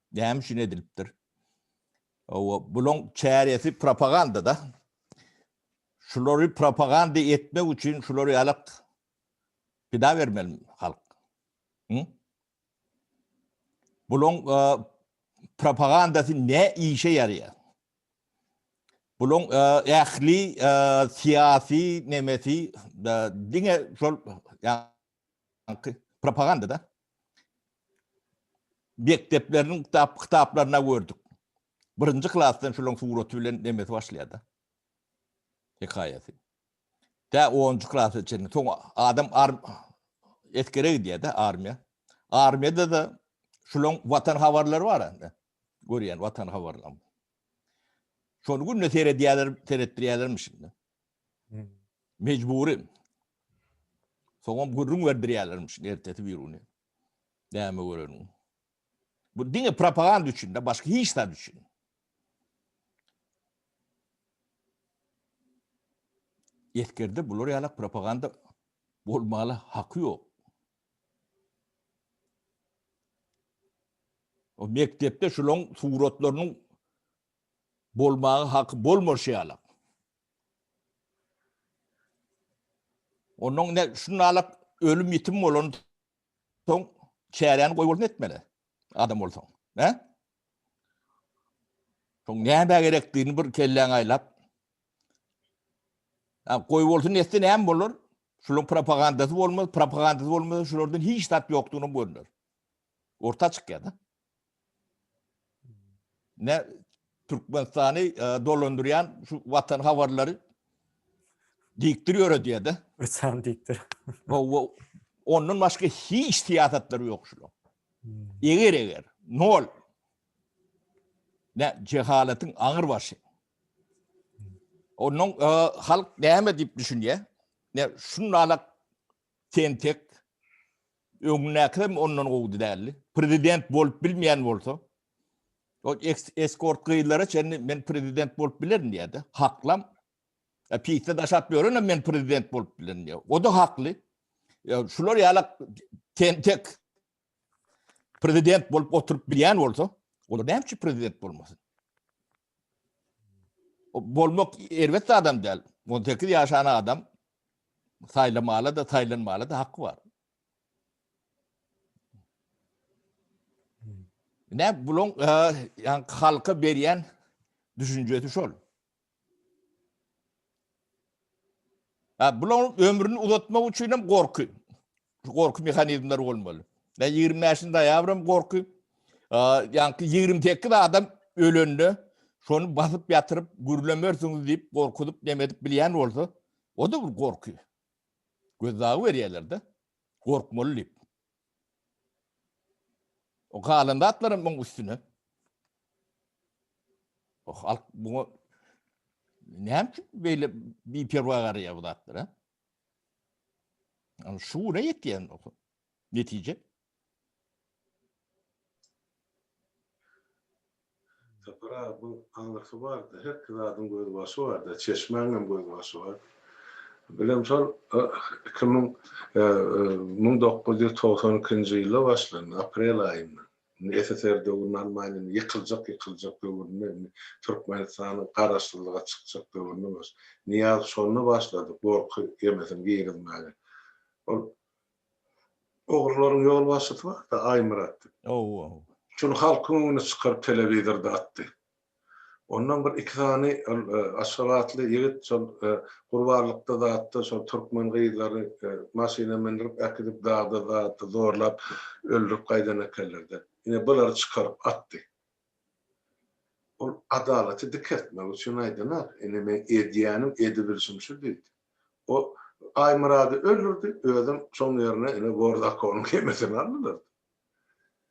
Näme üçin edilipdir? Hawa, bulaň çäresi propaganda-da. Şulary propaganda etmek üçin şulary alyp pida bermeli halk. Hı? Bulaň e, propagandasy ne işe ýaraýar? Bulaň e, ähli e, syýasy nemesi diňe şol propagandada mekdepleriniň kitap kitaplarynda gördük. Birinji klasdan şularyň suraty bilen demesi başlaýardy. Hekaýasy. Tä 10-njy klasa çenli. Soň adam ar eskere gidýärdi armiýa. Armiýada da şularyň watan habarlary bar indi. Görýän watan habarlaryny. Şony günde seredýärler, seretdirýärlermiş indi. Mejbury. Soňam gürrüň berdirýärlermiş ertesi bir güni. Näme göreniň. Bu diňe propaganda üçin-de, başga hiç zat üçin. Eskerde bular ýalak propaganda bolmaly haky ýok. O mekdepde şulaň suratlarynyň bolmagy haky bolmaşy ýalak. Onnoň ine, şuny alap, ölüm-ýitim bolansoň, çäräni goýbolsun etmeli, adam bolsaň. Hä? Soň nämä gerekdigini bir kelläňe aýlap, goýbolsun etse näme bolar? Şularyň propagandasy bolmaz, propagandasy bolmasa, şulardan hiç zat ýokdugyny görner. Orta çykýar-da. Ne Türkmenistany dolandyrýan şu watan habarlary dikdir ýöredýär de. Uçan dikdir. Wo ondan başga hiç syýasatlary ýok şular. Hmm. Eger eger nol ne cehaletin aňyr başy. Onun e, halk näme diýip düşünýär? Ne şunlala tentek Öňündäkisem ondan gowudy däldi. Prezident bolup bilmeýän bolsa, o eskort gyzlara çenli men prezident bolup bilerin diýýärdi. Haklam. E, Pitde daşap ýörenem men prezident bolup bilerin diýýär. O da hakly. E, şular ýalak tentek prezident bolup oturup bilýän bolsa, olar näme üçin prezident bolmasyn? bolmak erbet zadam däl. On sekiz ýaşan adam saýlamala-da, saýlanmala-da haky bar. Nä bulaň ýa halka berýän düşünjesi şol. Hä, bularyň ömrüni uzatmak üçin hem gorky, şu gorky mehanizmleri bolmaly. Ýa ýigrimi bäşinji noýabr hem gorky, ýa-ki ýigrimi sekiz adam ölende şony basyp ýatyryp, gürlemersiňiz diýip, gorkuzyp, neme edip bilýän bolsa, o-da bir gorky. Gözdagy berýärler-de, gorkmaly diýip. O galan zatlar hem muň üstüne. O halk muňa näme üçin beýle biperwa garaýar bu zatlara? Ýa şu güne ýetýän netije. Sapar aga buň aňyrsy barda herki zadyň göz başy barda çeşmäňem göz başy bar bilen şol iki müň müň dokuz ýüz togsan ikinji ýylda başlandy aprel aýynda indi ssr döwrüni almaýyn indi ýykyljak ýykyljak döwründe indi türkmenistanyň garaşsyzlyga çykjak döwründe baş nyýaz şonda başlady gorky ýemesin girizmäge ol Ogrularyň ýolbaşçysy bar-da, Aýmyrat diýip. Ow-ow. Şuny halkyň öňüne çykaryp telewizorda atdy. Ondan bir iki sany ol aşgabatly ýigit şol gurbanlykda zatda şol türkmen gyzlary maşyna mindirip äkidip dagda zatda zorlap öldürip gaýdan ekenler-de. Ine bulary çykaryp atdy. Ol adalaty dikeltmek üçin aýdanok. Ine, meň edýänim, edibilişim şu diýdi. O Aýmyrady öldürdi, özem şoň ýerine ine Bordakownyň hemesini aldylar.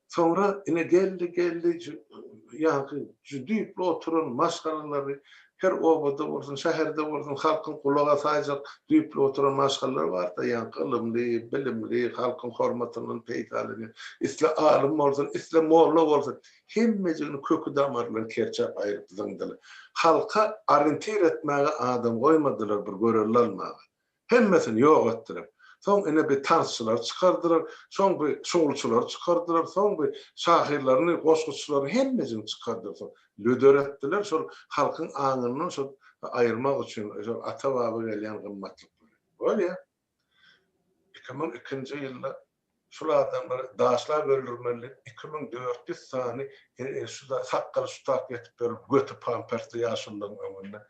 Soňra ine geldi, geldi, ýaňky şu düýpli oturan maşgalalary Her obada bolsun, şäherde bolsun halkyň gulaga saýjak düýpli oturan maşgalalary bar-da, ýaňky ylymly, bilimli, halkyň hormatyndan peýdalanýan. Isle alym bolsun, isle molla bolsun, hemmejigini köki-damaryndan kerçäp aýryp zyňdylar. Halka oriýentir etmäge adam goýmadylar, bir görelde almaga. Hemmesini ýok etdiler. Soň ine bi tarzçylary çykardylar, soň bi şowlçylary çykardylar, soň bi şahyrlaryny, goşguçylaryny hemmesini çykardylar soň. Lüder etdiler şol halkyň aňyndan şol aýyrmak üçin şol ata-baba gelýän gymmatlyklary. Bolýa. Iki müň ikinji ýylda Şulardan bir daşlap öldürmeli iki müň dört ýüz sany şuda sakgaly şu tak ýetip berip göti pampersli ýaşulylaryň öňünde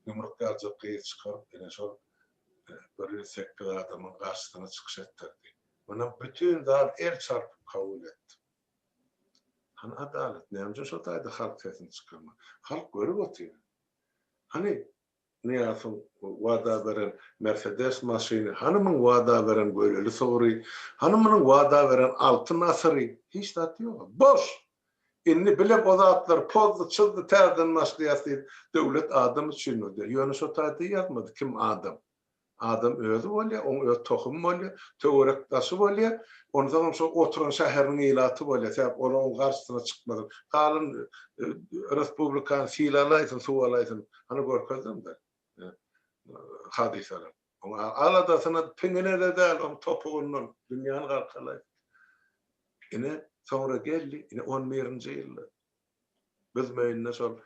ýumruk ýaljak gyz çykaryp ine şol bir ýüz sekiz adamyň garşysyna çykyş etdirdi. Muny bütin zal el çarpyp kabul etdi. Hany adalat? Näme üçin şo taýda halk sesini çykarman? Halk görüp otyr. Hany Nyýazow wada beren Mersedes maşyny, hany muň wada beren göleli sygry, hany munyň wada beren altyn asyry? Hiç zat ýog-a. Boş! Indi bilem o zatlar pozdy, çyzdy, täzeden başlaýas diýip, döwlet adam üçin öder. Ýöne şo taýda ýazmady kim adam. Adam özi bolýar, oň öz tohumy bolýar, töwerek-daşy bolýar, onsoňam şo oturan şäheriniň ilaty bolýar, sebäp ol oň garşysyna çykmaz. Galyn respublikany sil alaýsyn, suw alaýsyn, hany görkezdim bir hadysalary. Oň aladasyna piňine-de däl, oň topugyndan dünýäni galkalaýsyn. Ine, soňra geldi, ine, on birinji ýylda. Biz möýünde şol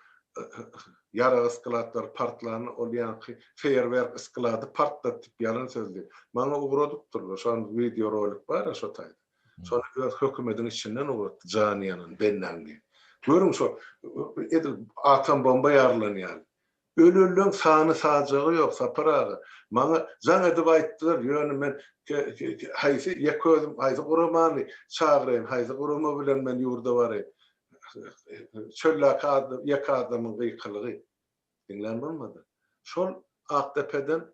ýarag sklatlary partlanda ol ýaňky feýerwerk sklady partlatdyk ýalan söz diýip. Maňa ugradypdyrlar. Şo wideo rolik bar-a şo taýda. Şony öz hökümediň içinden ugratdy jany ýanan Bennangi. Görüň şo edil atom bomba ýarylan ýaly. Ölenleň sany sajagy ýok Sapar aga. Maňa jaň edip aýtdylar ýöne men haýsy ýeke özüm haýsy guramany çagyraýyn haýsy gurama bilen men ýurda baraýyn. Çöldäki ýeke adamyň gykylygy. Diňlän bolmady. Şol Akdepeden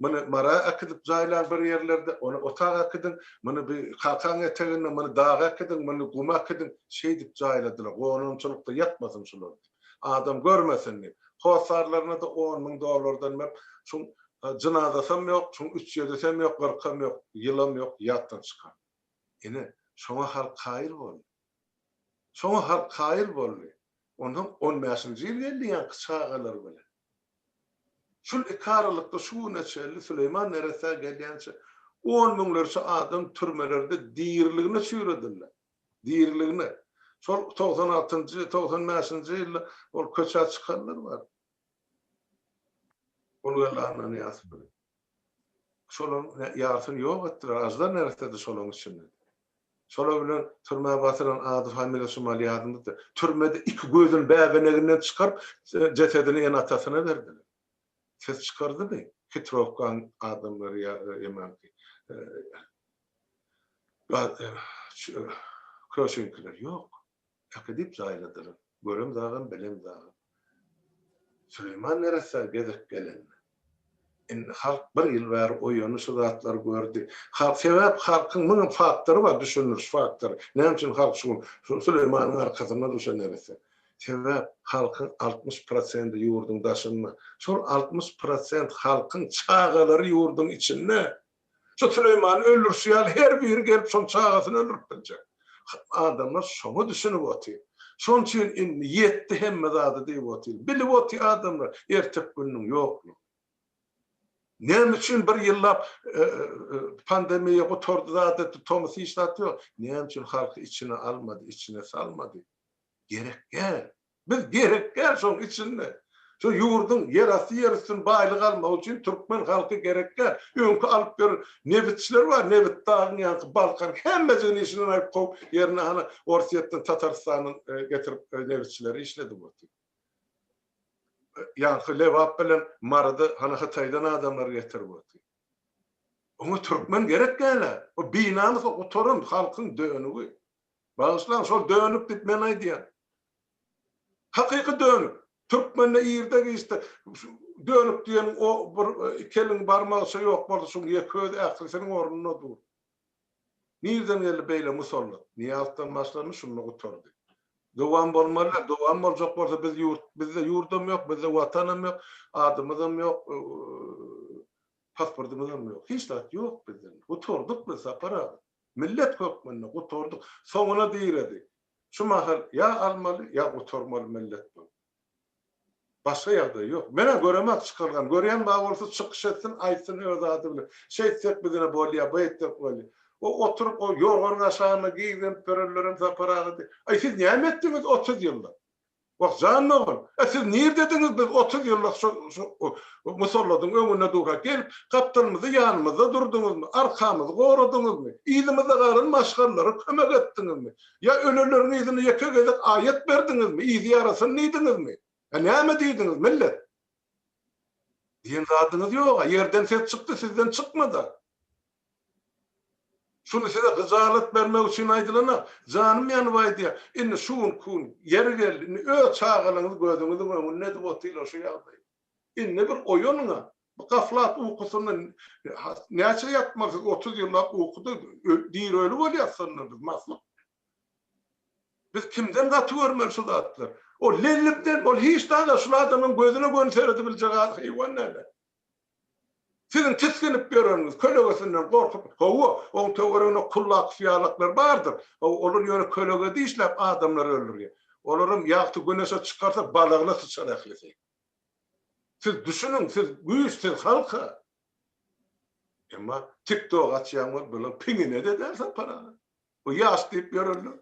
Muny mara äkidip jaýlaň bir ýerlerde, ony ota äkidiň, muny bir kakaň eteginde, muny daga äkidiň, muny guma äkidiň, şeýdip jaýladylar, gonamçylykda ýatmasyn şular diýip, adam görmesin diýip. Hossarlaryna-da on müň dollardan berip, şuň jynazasam ýok, şuň üç ýedisem ýok, kyrkam ýok, ýylam ýok, ýatdan çykan. Ine, şoňa halk kaýyl boldy. Şoňa halk kaýyl boldy. Onsoň on bäşinji ýyl geldi ýaňky çagalar bilen. Şol iki aralykda şu güne çenli Süleýman neresä gelýänçä on müňlerçe adam türmelerde diriligine çüýredildi. Diriligine. Şol togsan altynjy, togsan bäşinji ýylda ol köçä çykanlar bar. Ol geldi Annanyýazow bilen. Şolaryň ýarysyny ýok etdiler, aždar näresedi şolaryň içinde. Şolar bilen türmä basylan ady familiýasy şumal ýadymyzda. Türmede iki gözüni bäbeneginden çykaryp, jesedini ene-atasyna berdiler. Ses çykardymy? Hitrowkaň adamlary ýa emanki Köşeňkiler? Ýok. Äkidip jaýladylar. Görem dagam, bilem dagam. Süleýman neressä gezek gelende. Indi halk bir ýyl bäri oýany şu zatlary gördi. Halk, sebäp halkyň müň faktory bar, düşündiriş faktory. Näme üçin halk şu gün şu Süleýmanyň arkasynda dur şu neresse? Sebäp halkyň altmyş prosendi ýurduň daşynda. Şol altmyş prosent halkyň çagalary ýurduň içinde. Şu Süleýmany öldürşi ýaly her biri gelip şoň çagasyny öldürip biljek. Adamlar şoňa düşünip otyr. Şoň üçin indi ýetdi hemme zady diýip otyr. Bilip otyr adamlar ertek gününiň ýoklugyny. Näme üçin bir ýyllap pandemiýa gutardy zat etdi tomus hiç zat ýok. Näme üçin halky içine almady, içine salmady. Gerek däl. Biz gerek däl şoň üçinde. Şu ýurduň ýerasty ýerüstün baýlygy almagy üçin türkmen halky gerek däl. Öňki alyp ber nebitçiler bar nebit dagyň ýanky balkan hemmejigini işinden aýyp kowup ýerine hany orsyýetden tatarystandan getirip nebitçileri işledip otyr. Ýanky lebap bilen marydy hany hytaýdan adamlar getirip otyr. Oňa türkmen gerek dälä. O binamys o gutaran halkyň dönügi. Bagyşlaň şol dönük diýip men aýdýan. Hakyky dönük. Türkmende irde giçde dönük diýen o bir iki eliň barmagyça ýok boldy şuň ýeke özi ählisiniň ornuna dur. Nirden geldi beýle musallat. Nyýazdan başlandy şunda gutardy. Dowam bolmalyda dowam boljak bolsa biz ýurt bizde ýurdam ýok bizde watanam ýok adymyzam ýok pasportymyzam ýok hiç zat ýok bizde gutardyk biz Sapar aga. Millet hökmünde gutardyk. Soňuna diredi. Şu mahal ýa almaly, ýa gutarmaly millet bu. Başga ýagdaý ýok. Menä göremak çykalgany. Görýän bar bolsa çykyş etsin, aýtsyn öz ady bilen. Şeýtsek bizine bolýa, beýtsek bolýa. O oturyp o ýorganyň aşagynda gizlenip ýörenlerem Sapar agady. Aý siz näme etdiňiz otuz ýylda? Wah, jan dogan, a siz nirdediňiz, biz otuz ýyllyk şo şo musalladyň öňünde durka gelip, gapdalymyzy ýanymyzda durduňyzmy, arkamyzy goradyňyzmy, yzymyzda galan maşgalalara kömek etdiňizmi? Ýa öleleriň yzyna ýeke gezek aýat berdiňizmi, yzy ýarasyn diýdiňizmi? A näme diýdiňiz, millet? Diýen zadyňyz ýog-a, ýerden ses çykdy, sizden çykmady-a. Şuny size gyjalat bermek üçin aýdylana, janym ýanyp aýdýan. Indi şu gün kun, ýeri geldi, indi öz çagalaryňyz gözüňiziň öňünde edip otyrlar şu ýagdaýy. Indi bir oýanyň-a. Bu gaflat ukusynda näçe ýatmaly siz? Otuz ýyllap ukuda diri-öli bolýas şonda biz, mahluk. Biz kimden gaty görmeli şu zatlary? Ol lellimden, ol hiç zat-a, şul adamyň gözüne göni seredibiljek haýwan däl-ä. Siziň tisginip ýöreniňiz, kölegesinden gorkup, hawa, oň töwereginde kullak-syýalaklar bardyr, hawa, olar ýöne kölege dişläp adamlary öldürýär. Olaram ýagty güneşe çykarsa balagyna syçar ählisi. Siz düşüniň, siz güýç, siz halk-a. Emma tiktok açýaň bol, bulaň piňine deder sen parany. Bu ýaş diýip ýörenler.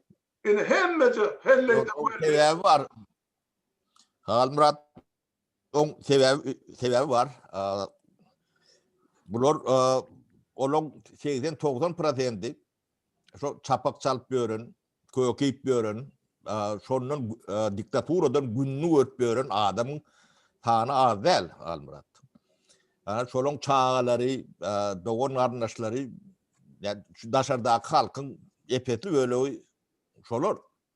Indi hemmeje helleýde-welleýde. Ýok, oň sebäbi bar. Halmyrat Oň sebäbi sebäbi bar. Bular olaň 80-90 prosendi şo çapak çalyp ýören, köke iýip ýören, şondan diktaturadan gününi görüp ýören adamyň sany az däl, Almyrat. Ana şolaň çagalary, dogan garyndaşlary, ýa şu daşardaky halkyň epesli bölegi şolar.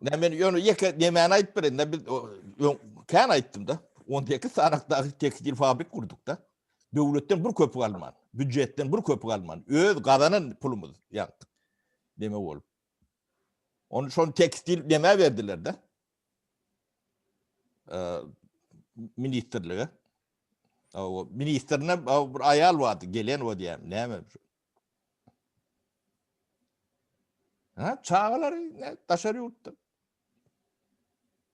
Ne men ýöne ýeke nemäni aýdyp berin, ne biz kän aýtdym da. 18 sanakdaky tekstil fabrik gurduk da. Döwletden bir köpük alman, büdjetden bir köpük alman, öz gazanan pulumyz ýapdyk. Neme bolup? Onu şol tekstil nämä berdiler da? ministrlige ministrine bir aýal bardy gelen o diýýäm näme Ha, çagalar ne, daşar yurtda.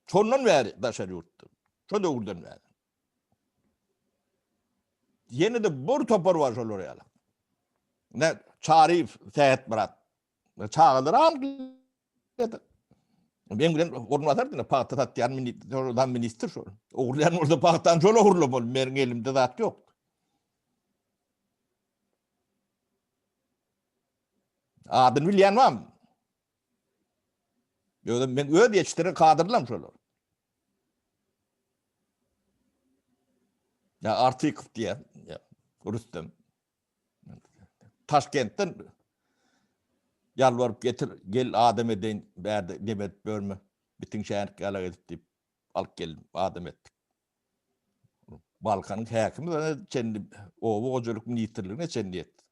Sondan beri daşar yurtda. Son döwürden beri. Yeni de bir topar var şolar yalan. Ne, Çarif, Sehet Murat. Çagalar alyp geldi. Men bilen orunbasar diýip pagta satýan ministr, ministr şol. Ogurlaýan bolsa pagtan şol ogurla bol, meniň elimde zat ýok. Adyny bilýän barmy? Ýöne men öz ýetişdiren kadrlam şolar. Ya Artikov diye ya Rüstem. Taşkentden ýalbaryp getir, gel adam edeýin, bärde dem edip ýörme, bitin şänik ýalak edip diýip, alyp geldim, adam etdik. Balkanyň häkimi çenli oba hojalyk ministrligine çenli ýetdi.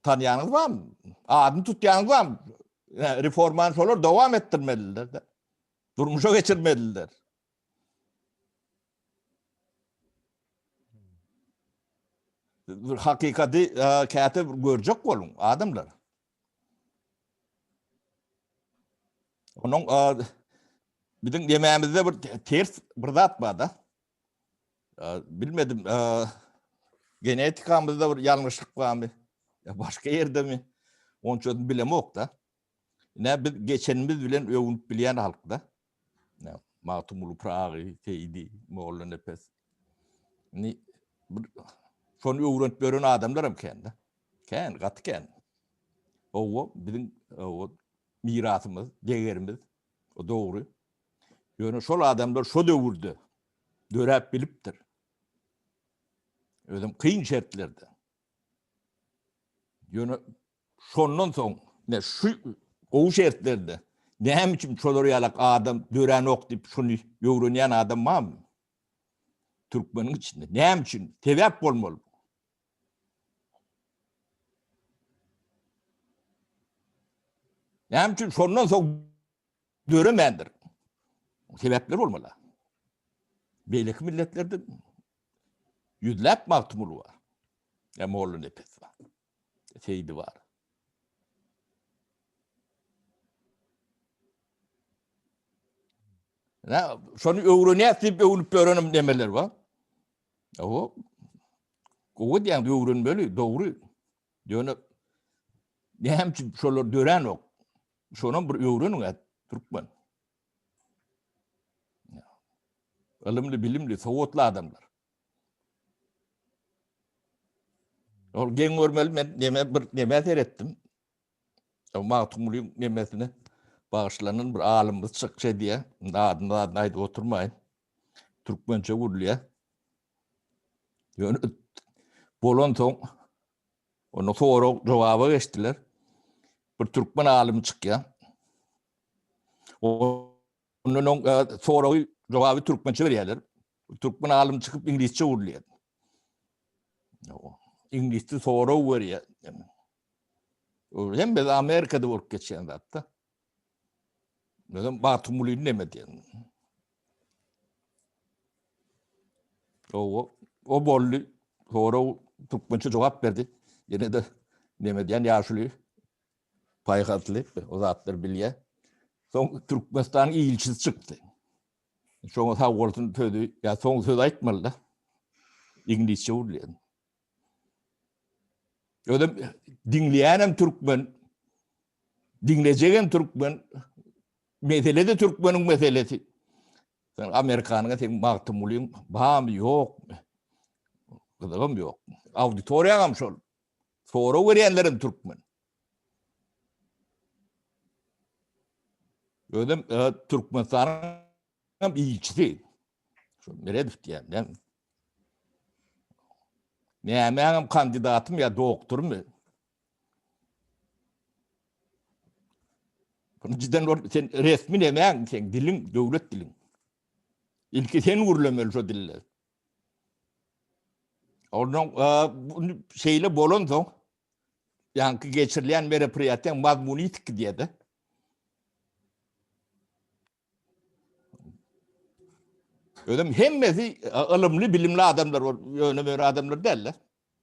Tanýanyňyz barmy? Adyny tutýanyňyz barmy? Reformany şolar dowam etdirmeliler-de. Durmuşa geçirmeliler. Bir hakykati käte bir görjek boluň adamlar. Onuň biziň dememizde bir ters bir zat bar da. Bilmedim genetikamyzda bir ýalňyşlyk barmy? Ya başga ýerde mi? Onça bilemok da. Ne biz geçenimiz bilen öwünip bilýän halk da. Magtymguly Pyragy, Seýdi, Mollanepes. Indi bir şony öwrenip ýören adamlar hem kän-de. Kän, gaty kän. Owo biziň owo mirasymyz, degerimiz. O dogry. Ýöne şol adamlar şo döwürde döräp bilipdir. Özüm kyn şertlerde. Ýöne Şondan soň, ine, şu gowy şertlerde näme üçin şolar ýalak adam döränok diýip, şuny öwrenýän adam barmy? Türkmeniň içinde. Näme üçin? Sebäp bolmaly. Näme üçin şondan soň döremändir? Sebäpler bolmaly. Beýleki milletlerde ýüzläp magtymguly bar. Ýa molla nepes bar. seýdi bar. Ne, şony öwrenýäs diýip öwnüp ýörenim demeler bar. Owo. Gowy diýen öwrenmeli, dogry. Ýöne näme üçin şolar dörenok? Şonam bir öwreniň at türkmen. Ylymly, bilimli, sowatly adamlar. Ol geň görmeli men neme bir neme seretdim. Magtymgulyň nemesine bagyşlanan bir alymymyz çykça diýä. Adyny adyny aýdyp oturmaýyn. Türkmençe gurulýa. Ýöne bolan soň onu sorag jogaba geçdiler. Bir türkmen alymy çykýa. O Ondan oň soragy, jogaby türkmençe berýärler. Türkmen alym çykyp iňlisçe gürleýär. Iňlisçe sorag berýär. Hemme Amerikada bolup geçýän zatda. Özüm Batumulyny neme diýen. O, o bolly sorag türkmençe jogap berdi. Ýene de neme diýen ýaşuly Paýhasly, o zatlar bilýär. Soň Türkmenistanyň ilçisi çykdy. Şoňa sag bolsun sözi, ýa soň söz aýtmaly-da. Iňlisçe gürleýän. Özüm diňleýänem türkmen, diňlejegem türkmen, mesele-de türkmeniň meselesi. Sen Amerikanyň sen Magtymgulyň bamy ýokmy? Gyzygym ýok. Auditoriýaňam şol. Sorag berýänlerem türkmen. Özüm e, Türkmenistanyň ilçisi. Şu Meredow diýýän. Nämäňem kandidatym ýa doktormy? Bunu cidden bor, sen resmi nämäň, sen diliň, döwlet diliň. Ilki sen gürlemeli şu dille. Ondan şeýle bolan soň, ýaňky geçirilýän merapryýatyň mazmuny ýitip gidýärdi. Özüm hemmesi ylymly, bilimli adamlar bolup, ýöne bir adamlar däldi.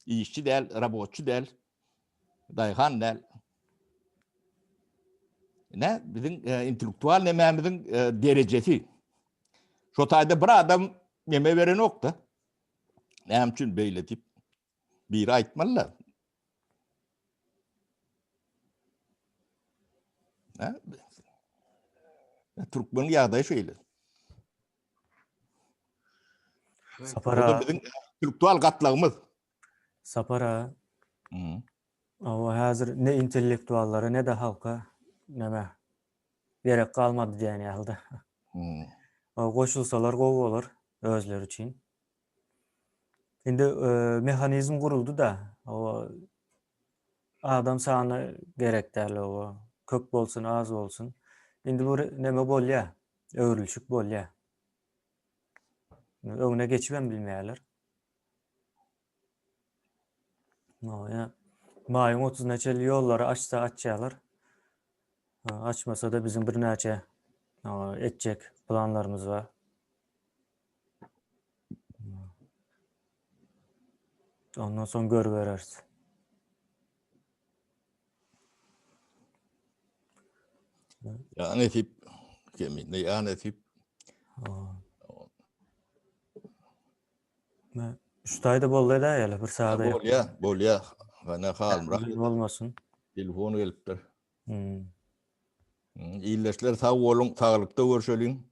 Işçi däl, robotçy däl, daýhan däl. Ine, biziň e, intellektual nemämiziň e, derejesi. Şo taýda bir adam neme berenok-da. Näme üçin beýle diýip biri aýtmaly-da. Türkmen ýagdaýy şeýle. Sapar aga. Biziň intellektual gatlagymyz. Sapar aga. Hmm. Awa häzir ne intellektuallara ne de halka näme gerek galmady diýen ýaly-da. Hmm. Awa goşulsalar gowy bolar özleri üçin. Indi e, mehanizm guruldy-da, awa Adam sany gerek däl oba köp bolsun az bolsun indi bu neme bolýa öwrülişik bolýa öňüne geçibem bilmeýärler Maýa maýyň otuzyna çenli ýollary açsa açýarlar açmasa-da biziň birnäçe etjek planlarymyz bar Ondan soň görübereris. Ya nesip. Keminde ya nesip. Ne? Şutayda boldy da ýaly bir saada. Bol ya, bol ya. Bana halmra. Olmasyn. Telefon gelipdir. Hmm. Illeşler sag bolun, saglyk da görşelin.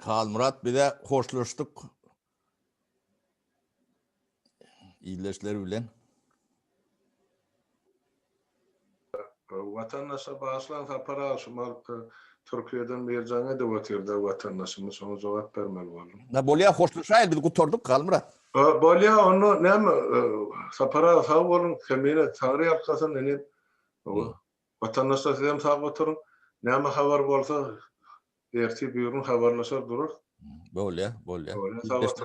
Halmyrat bize hoşlaşdyk. ildeşleri bilen. Watandaşa bagyşlan sapar agşamal Türkiýeden Merjan edip otyrda watandaşymyz şoňa jogap bermeli boldum. Na bolýa hoşlaşaýyl biz gutardyk Galmyrat. Bolýa onda näme Sapar aga sag boluň Kemine Taňryýalkasyn inim. Watandaşlar sizem sag oturyň. Näme habar bolsa ertir buyurun habarlaşar durarys. Bolya bolya.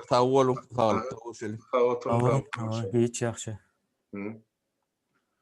Sag boluň saglykda görüşeliň. Sag oturyň. Hiç ýagşy.